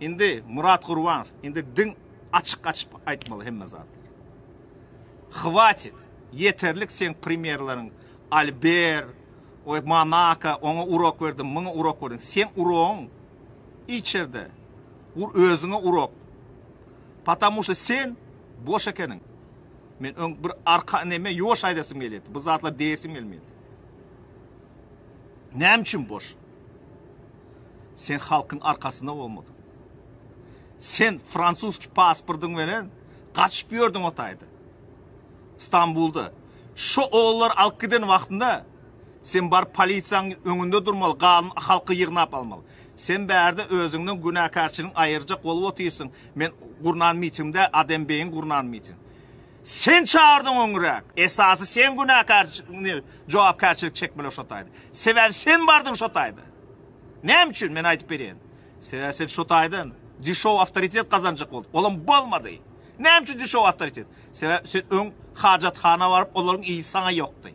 Indi Murat Gurbanow, indi diň açyk açyp aýtmaly hemme zatlar. Hwatit, ýeterlik seň premýerleriň Alber, oý Monaka, oňa urok berdim, muňa urok berdim. Seň urogyň içerde. Ur özüňe urok. Patamu şu sen boş ekeniň. Men öň bir arka neme ýoş aýdasym gelýärdi. Bu zatlar diýesim gelmeýärdi. Näme üçin boş? Sen halkyň arkasynda bolmadyň. Sen fransuski pasportyň menen gaçyp ýördüň o taýda. Stambulda. Şo ogullary alyp giden wagtynda sen baryp polisiýanyň öňünde durmaly, galan halky ýygnap almaly. Sen bärde özüňden günäkärçiligiňi aýyrjak bolup otyrsyň, men gurnan mitingimde, Adembeýiň gurnan mitingi. Sen çagyrdyň öňräk. Esasy sen günäkär jogapkärçilik çekmeli şo taýda. Sebäbi sen bardyň şo taýda. Näme üçin men aýdyp berýän. Sebäbi sen şo taýdan dişow awtoritet gazanjak bolduň. Olam bolmady. Näme üçin dişow awtoritet? Sebäbi sen öň hajathana baryp olaryň iýi saňa ýokdy.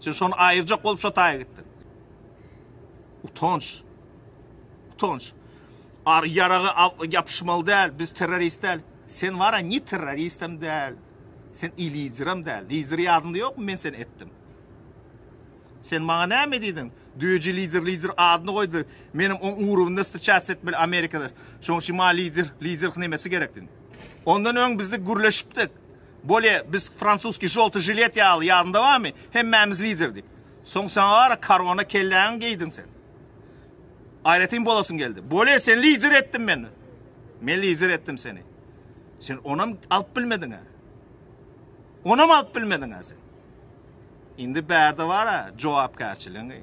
Sen şony aýyrjak bolup şo taýa gitdiň. Utanç. Utanç. Ar ýaraga ýapyşmaly däl, biz terrorist däl. Sen wara ni terroristem däl. Sen i liderem däl. Lider ýadyňda ýokmy men seni etdim. Sen maňa näme diýdiň? Düýeje lider lider adyny goýdy. Menem oň urugynda strçatsiýa etmeli Amerikada. Şoň şi ma lider lider hnemesi gerekdin. Ondan öň bizde gürleşipdik. Bolýa biz fransuski žolty žilet ýaly ýadyňda bamy? Hemmämiz lider diýip. Soň saňa wara karona kelläňi geýdiň sen. Aýratyn bolasyn geldi. Bole, sen lider etdin meni. Men lider etdim seni. Sen onam alyp bilmediň ha. Onam alyp bilmediň ha sen. Indi bärde bar ha, jogapkärçiligiňi.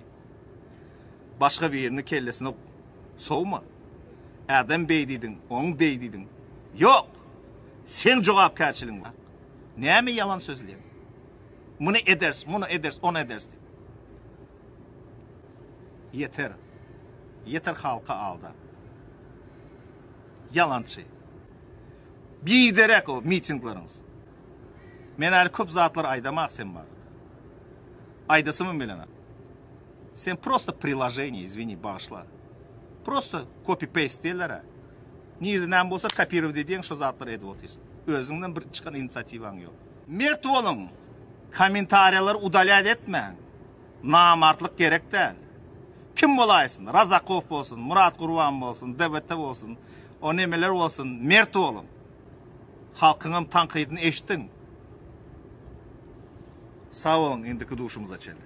Başga birini kellesine sowma. Adam beýdidiň, oň beýdidiň. Ýok. Sen jogapkärçiligiň bar. Näme ýalan sözleýän? Muny eders, muny eders, ony eders. Ýeter. Ýeter halky aldap. Ýalançy. Biderek o mitinglaryňyz. Men äli köp zatlar aýdamak sen barada. Aýdasymym bilenok. Sen prosta priloženiýe, izwini, bagyşla. Prosta copy paste diýerler-ä. Nirde näme bolsa kopirowat edýäň şo zatlary edip otyrsyň. Özüňden bir çykan inisiatiwaň ýok. Mert boluň. Kommentariýalary udalýat etmäň. Namartlyk gerek däl. Kim bolaýsyn, Razakow bolsun, Murat Gurban bolsun, DBT bolsun, o nemeler bolsun, mert boluň. Halkyňam tankydyny eşdiň. Sag boluň, indiki duşumyza çenli.